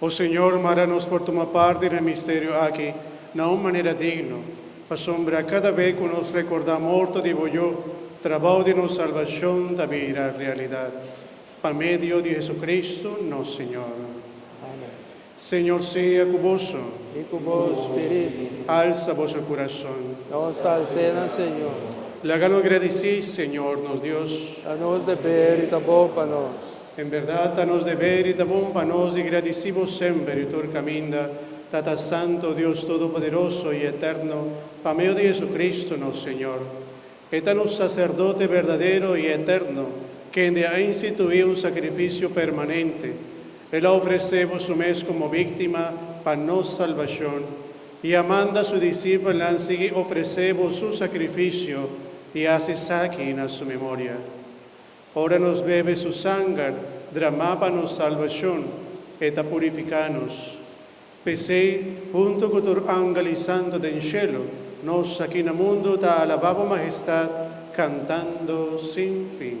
O Señor, manda nos por tuma parti na e misterio aki na un manera digno, pasobra cada be cu nos recorda morto di bo Yu, trabao di nos salbacion ta bira realidad. Pa medio di Jesucristo, nos Señor. Amen. Señor sea cu boso. I cu bo spiritu. Alsa boso curason. Nos ta alc'é na Señor. Lagano gradici, Señor nos Dios. Ta nos deber i ta bon pa nos. En berdad ta nos deber i ta bon pa nos di gradici Bo semper i tur caminda, Tata Santo, Dios Todopoderoso i Eterno, pa medio di Jesucristo, nos Señor. E ta nos Sacerdote berdadero i eterno, kende a institui un sacrificio permanente. El a ofrece Bo Su mes como víctima pa nos salbacion i a manda Su disipelnan sigui ofrece Bo Su sacrificio i haci esaki na Su memoria. Ora nos bebe su sanger dramá pa nos salbashon, e ta purifiká nos. P'esei, huntu ku tur angel i santu den shelu, nos aki na mundu ta alabá bo mahestat kantando sin fin.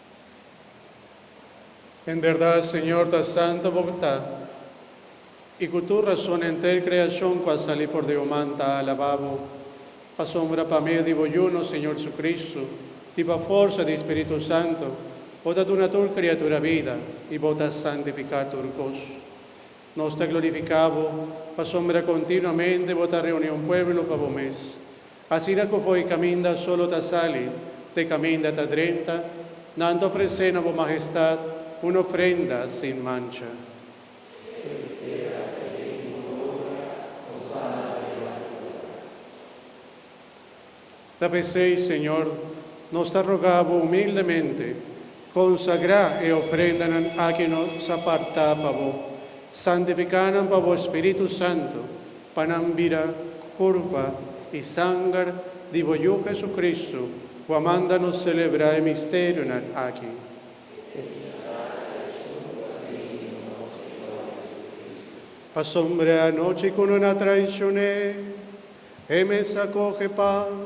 En berdad, Señor, ta santo Bo ta, i cu tur razon henter creacion cu a sali for di Bo man ta alaba Bo. Pasobra pa medio di Bo Yu, nos Señor Jesucristo, i pa forsa di e Spiritu Santo, Bo ta duna tur criatura bida, i Bo ta santifica tur cos. Nos ta glorifica Bo, pasobra continuamente Bo ta reuni un pueblo pa Bo mes, Asina ku fo'i kaminda solo ta sali, te kaminda ta drenta, nan ta ofresé na bo Mahestat un ofrenda sin mancha. Ta p'esei, Señor, nos ta rogá bo humildemente, Konsagrá e oprendanan aki nos a partá pa bo, santifiká nan pa bo Spiritu Santu, pa nan bira kurpa i sanger di bo Yu Hesukristu, ku a manda nos selebrá e misterionan aki. Pasobra e anochi ku nan a traishoné, E mes a kohe pan.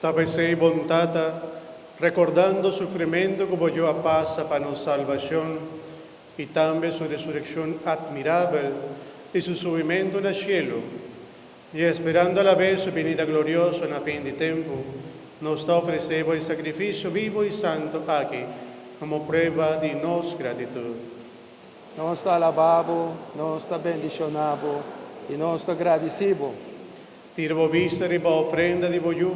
Ta pesey bon Tata, rekordando sufrimentu ku bo Yu a pasa pa nos salbashon i tambe su resurekshon atmirabel i su subimentu na shelu, i esperando alabes su binida glorioso na fin di tempu, nos ta ofresé bo e sakrifisio bibu i santu aki komo prueba di nos gratitut. Nos ta alaba bo, nos ta bendishoná bo i nos ta gradisí bo. Tira bo bista riba ofrenda di bo yu,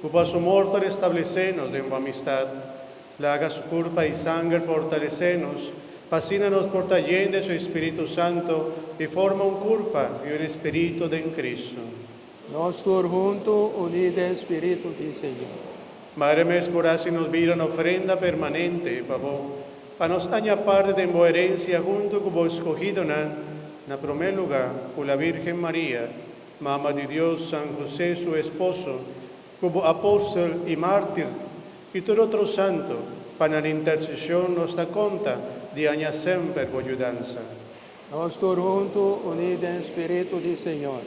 ku pa su mor ta restablesé nos den bo amistat. Laga su kurpa i sanger fortalesé nos, pa asina nos por ta yen den su Espiritu Santu i forma un kurpa i un espiritu den Kristu. Nos tur huntu uní den Spiritu di Señor. Maria mes por hasi nos bira un ofrenda permanente pa bo. Pa nos haña parti den bo herencia huntu cu bo escogidonan, na prome luga, cu la Virgen Maria, Mama di Dios, San Jose su esposo, cu bo apostel y martir, y tur otro santo, pa nan intercesion nos ta conta di haña semper bo yudansa. Nos tur huntu uní den spiritu di Señor.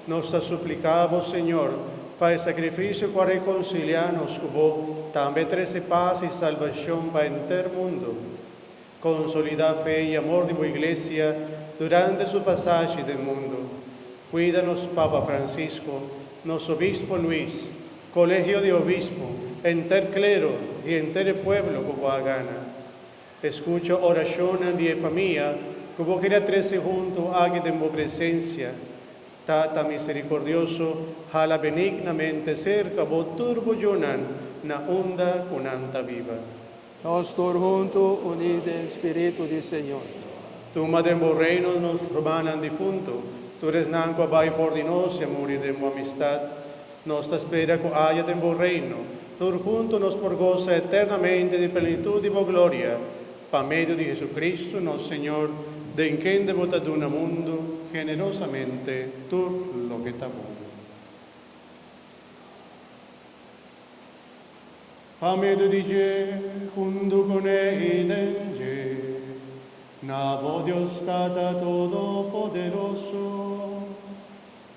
Nos ta supliká Bo, Señor, pa e sakrifisio ku a rekonsiliá nos ku Bo tambe trese pas i salbashon pa henter mundu. Konsolidá fe i amor di Bo Iglesia durante su pasashi den mundu. Kuida nos Papa Francisco, nos Obispo Luis, Kolegio di Obispo, henter klero i henter e pueblo ku Bo a gana. Escucha oracionnan di e famia cu bo keda trece huntu aki den bo presencia. Tata misericordioso, hala benignamente cerca bo tur bo yunan na unda cu nan ta biba. Nos tur huntu uní den spiritu di Señor. Tuma den bo reino nos rumannan difuntu, tur esnan cu a bay for di nos y a muri den bo amistad. Nos ta spera cu aja den bo Reino, tur hunto nos por goza eternamente di plenitud di bo gloria, pa medio di Jesucristo, nos Señor, den kende bo ta duna mundo generosamente tur loke ta bon. Pa medio di dje, hunto cu ne i den dje, na bo Dios Tata Todopoderoso,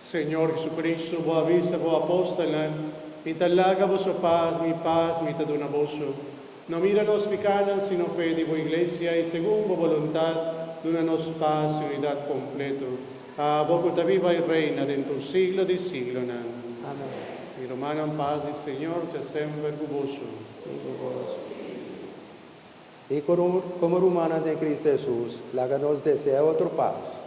Señor Jesucristo, bo a bisa bo apóstolnan, Mi ta laga boso pas, mi pas mi ta duna boso. No mira nos pikánan, sino fe di bo Iglesia, i segun bo boluntat, duna nos pas i unidat kompleto. A abo ku ta biba i reina den tur siglo di siglonan. Amén. Mi rumannan, pas di Señor sea semper ku boso. I komo rumannan den Kristu Hesus, laga nos desea otro pas.